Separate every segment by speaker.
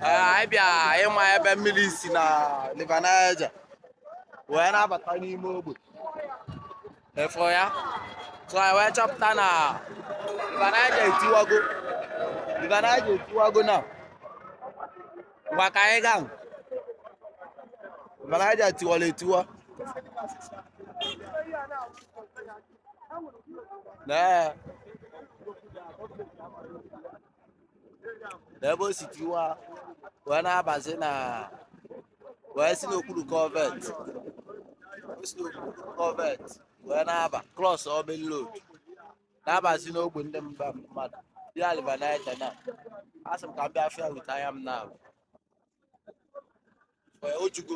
Speaker 1: anyị bịa ịma ebe mmiri si na River Niger wee na-abata n'ime Ogbe Ọfụ ya so anyị wee chọpụta na River Niger etiwago River Niger etiwago na ngwa ka anyị gaa River Niger tiwara etiwa na na ebe o si tiwa wee na-abazi na wee si n'okpuru culvert o si n'okpuru culvert wee na-aba cross main road na-abazi n'ogbe ndị mba mmadụ dị na River Niger na asị m ka m bịa fụ ya with anya m na wee ojugo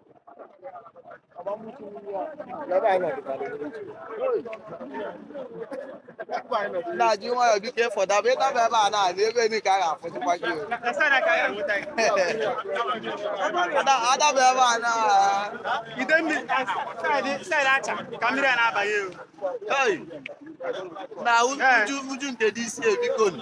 Speaker 1: na ji nwayọ biko before ị daba ị daba ebe a na-adị ebe ni ka a ga-afụzikwa gị o. Ada- adaba ebe a na ide mmiri saịdị saịdị acha ka mmiri a na-abaghị ewu. Hey! na uju uju nke dị isi e biko nụ.